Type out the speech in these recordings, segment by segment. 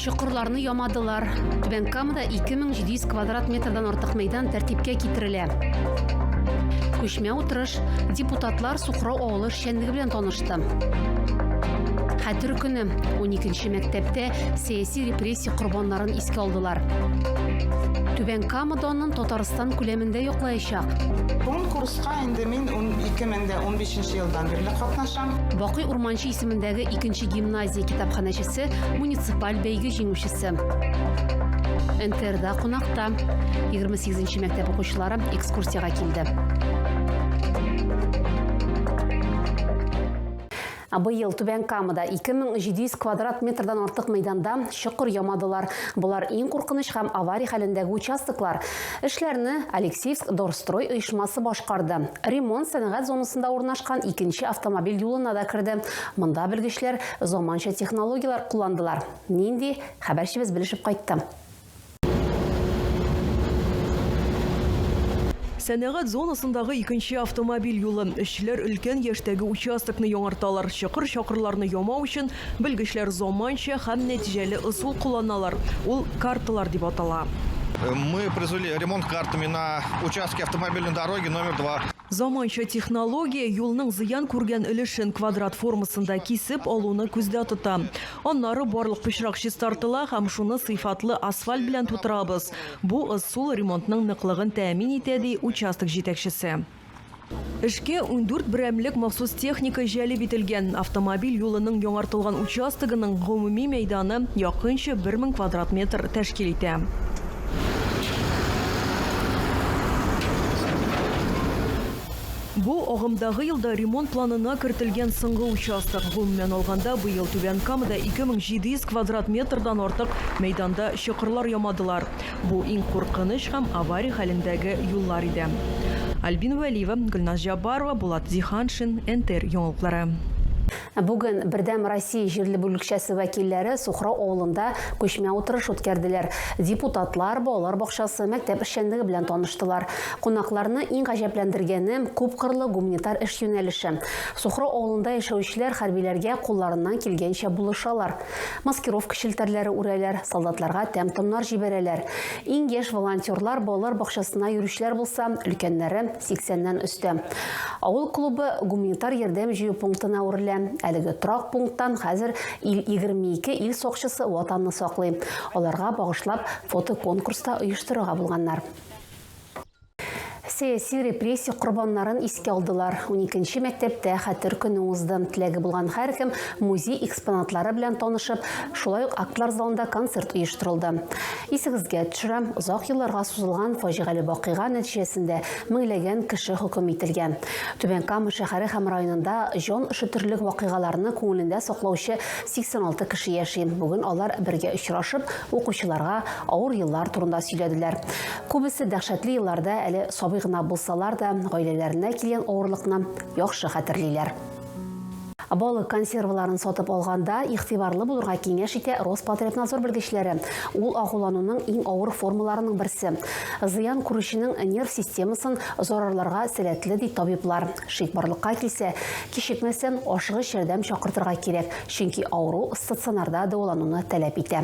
Чокырларны ямадылар. Түбән Камада 2700 квадрат метрдан артык мәйдан тәртипкә китерелә. Күчмә утырыш депутатлар Сухрау авылы эшчәнлеге белән танышты. Хәтер көне 12 мәктәптә сәяси репрессия корбаннарын искә алдылар. Түбән Камада аннан Татарстан күләмендә яклаячак. Конкурска Инде мин ун ике мең дә унбишенче елдан бирле катнашам. Бакый Урманче исемендәге икенче гимназия китапханәчесе, муниципаль бәйге җиңүчесе. НТРда кунакта. Егерме сигезенче мәктәп укучылары экскурсиягә килде. Ә быел Түбән Камада 2700 квадрат метрдан артык мәйданда чокыр ямадылар. Болар иң куркыныч һәм аварий хәлендәге участоклар. Эшләрне Алексеевск Дорстрой оешмасы башкарды. Ремонт сәнәгать зонасында урнашкан икенче автомобиль юлына да керде. Монда белгечләр заманча технологияләр кулландылар. Нинди? Хәбәрчебез белешеп кайтты. Сәнәгать зонасындагы икенче автомобиль юлы. Эшчеләр өлкән яшьтәге участокны яңарталар. Чокыр-чакырларны ямау өчен белгечләр заманча һәм нәтиҗәле ысул кулланалар. Ул карталар дип атала. Мы произвели ремонт картами на участке автомобильной дороги номер 2. Заманча технология юлның зыян күргән өлешен квадрат формасында кисеп алуны күздә тота. Аннары барлык пычрак чистартыла һәм шуны сыйфатлы асфальт белән тутырабыз. Бу ысул ремонтның ныклыгын тәэмин итә, ди участок җитәкчесе. Эшкә ундүрт берәмлек махсус техника җәлеп ителгән. Автомобиль юлының яңартылган участогының гомуми мәйданы якынча бер мең квадрат метр тәшкил итә. Бу, агымдагы елда ремонт планына кертелгән соңгы участок. Гомумән алганда, быел Түбән Камада 2700 квадрат метрдан артык мәйданда чокырлар ямадылар. Бу, иң куркыныч һәм авария хәлендәге юллар иде. Альбина Вәлиева, Гөлназ Җаббарова, Булат Зиһаншин, НТР яңалыклары. Бүген Бердәм Россия җирле бүлекчәсе вәкилләре Сухрау авылында күчмә утырыш үткәрделәр. Депутатлар балалар бакчасы, мәктәп эшчәнлеге белән таныштылар. Кунакларны иң гаҗәпләндергәне, күпкырлы гуманитар эш юнәлеше. Сухрау авылында яшәүчеләр хәрбиләргә кулларыннан килгәнчә булышалар. Маскировка челтәрләре үрәләр, солдатларга тәм-томнар җибәрәләр. Иң яшь волонтерлар балалар бакчасына йөрүчеләр булса, өлкәннәре, Сиксәннән өстә. Авыл клубы гуманитар ярдәм җыю пунктына үрелә. Әлеге торак пункттан хәзер ил 22 ил сакчысы Ватанны саклый. Аларга багышлап фотоконкурс та оештырырга булганнар. Сәяси репрессия корбаннарын искә алдылар. Уникенче мәктәптә Хәтер көне узды. Теләге булган һәркем музей экспонатлары белән танышып, шулай ук актлар залында концерт оештырылды. Исегезгә төшерәм, озак елларга сузылган фаҗигале вакыйга нәтиҗәсендә меңләгән кеше хөкем ителгән. Түбән Кама шәһәре һәм районында җан өшетерлек вакыйгаларны күңелендә саклаучы 86 кеше яши. Бүген алар бергә очрашып, укучыларга авыр еллар турында сөйләделәр. Күбесе дәһшәтле елларда әле сабый гына булсалар да, гаиләләренә килгән авырлыкны яхшы хәтерлиләр. Балык консерваларын сатып алганда игътибарлы булырга киңәш итә Роспотребнадзор белгечләре. Ул агулануның иң авыр формаларының берсе. Зыян күрүченең нерв системасын зарарларга сәләтле, ди табиблар. Шик барлыкка килсә, кичекмәстән ашыгыч ярдәм чакыртырга кирәк, чөнки авыру стационарда дәвалануны таләп итә.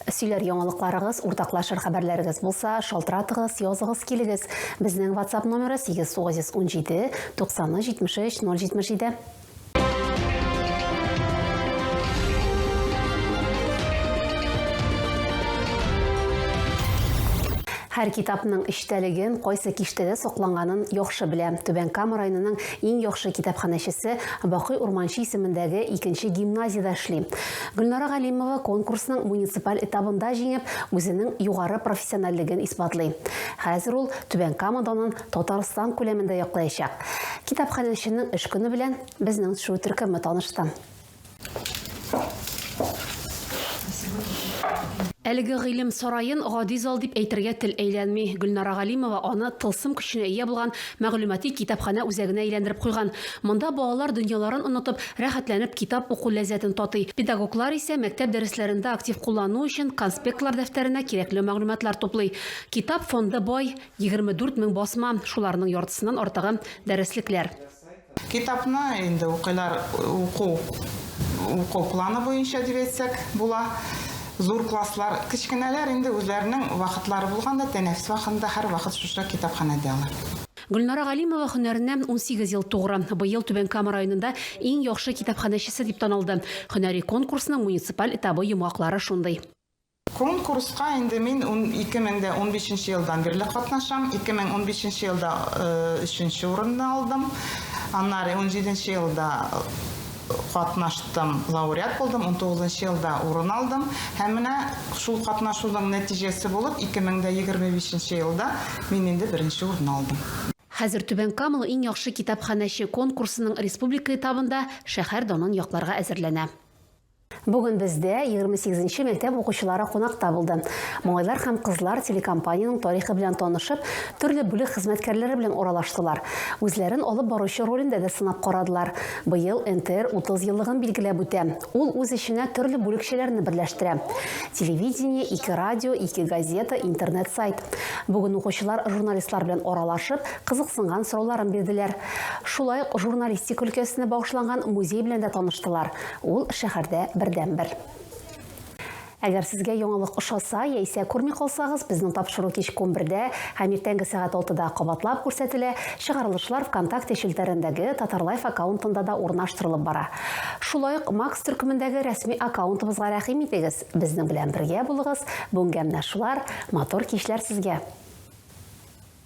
Сөйләр яңалыкларыгыз, уртаклашыр хәбәрләрегез булса, шалтыратыгыз, языгыз килегез. Безнең WhatsApp номеры 8-917, 90 73 077. Һәр китапның эчтәлеген, кайсы киштәдә сакланганын яхшы белә. Түбән Кама районының иң яхшы китапханәчесе Бакый Урманчы исемендәге икенче гимназиядә эшли. Гөлнара Галимова конкурсның муниципаль этабында җиңеп, үзенең югары профессиональлеген исбатлый. Хәзер ул Түбән Кама данын Татарстан күләмендә яклаячак. Китапханәченең эш көне белән безнең төшерү төркеме танышты. Әлеге гыйлем сараен гади зал дип әйтергә тел әйләнми. Гөлнара Галимова аны тылсым көченә ия булган мәгълүмати китапханә үзәгенә әйләндереп куйган. Монда балалар дөньяларын онытып, рәхәтләнеп китап уку ләззәтен татый. Педагоглар исә мәктәп дәресләрендә актив куллану өчен конспектлар дәфтәренә кирәкле мәгълүматлар туплый. Китап фонды бай, егерме дүрт мең басма, шуларның яртысыннан артыгы, дәреслекләр. Китапны инде укыйлар, уку, уку планы буенча дип әйтсәк була. Зур класслар, кечкенәләр инде үзләренең вакытлары булганда, тәнәфес вакытында һәрвакыт шушы китапханәдә алар. Гөлнара Галимова һөнәренә унсигез ел тугры. Быел Түбән Кама районында иң яхшы китапханәчесе дип таналды. Һөнәри конкурсның муниципаль этабы йомгаклары шундый. Конкурска инде мин 2015 нче елдан бирле катнашам. 2015 нче елда өченче урынны алдым. Аннары 17 нче елда катнаштым, лауреат булдым, 19 нчы елда урын алдым. Һәм менә шул катнашуның нәтиҗәсе булып, 2025 нче елда мин инде беренче урынны алдым. Хәзер Түбән Камыл иң яхшы китапханәче конкурсының республика этабында шәһәр данын якларга әзерләнә. Бүген бездә 28 нче мәктәп укучылары кунакта булды. Малайлар һәм кызлар телекомпаниянең тарихы белән танышып, төрле бүлек хезмәткәрләре белән аралаштылар. Үзләрен алып баручы ролендә дә сынап карадылар. Быел НТР 30 еллыгын билгеләп үтә. Ул үз эченә төрле бүлекчәләрне берләштерә. Телевидение, ике радио, ике газета, интернет-сайт. Бүген укучылар журналистлар белән аралашып, кызыксынган сорауларын бирделәр. Шулай ук журналистика өлкәсенә багышланган музей белән дә таныштылар. Ул шәһәрдә бердәнбер. Әгәр сезгә яңалык ошаса яисә күрми калсагыз, безнең тапшыру кичке унбердә һәм иртәнге сәгать алтыда кабатлап күрсәтелә, чыгарылышлар Вконтакте челтәрендәге Татарлайф аккаунтында да урнаштырылып бара. Шулай ук Макс төркемендәге рәсми аккаунтыбызга рәхим итегез, безнең белән бергә булыгыз, бүгенгә менә шулар, матур кичләр сезгә!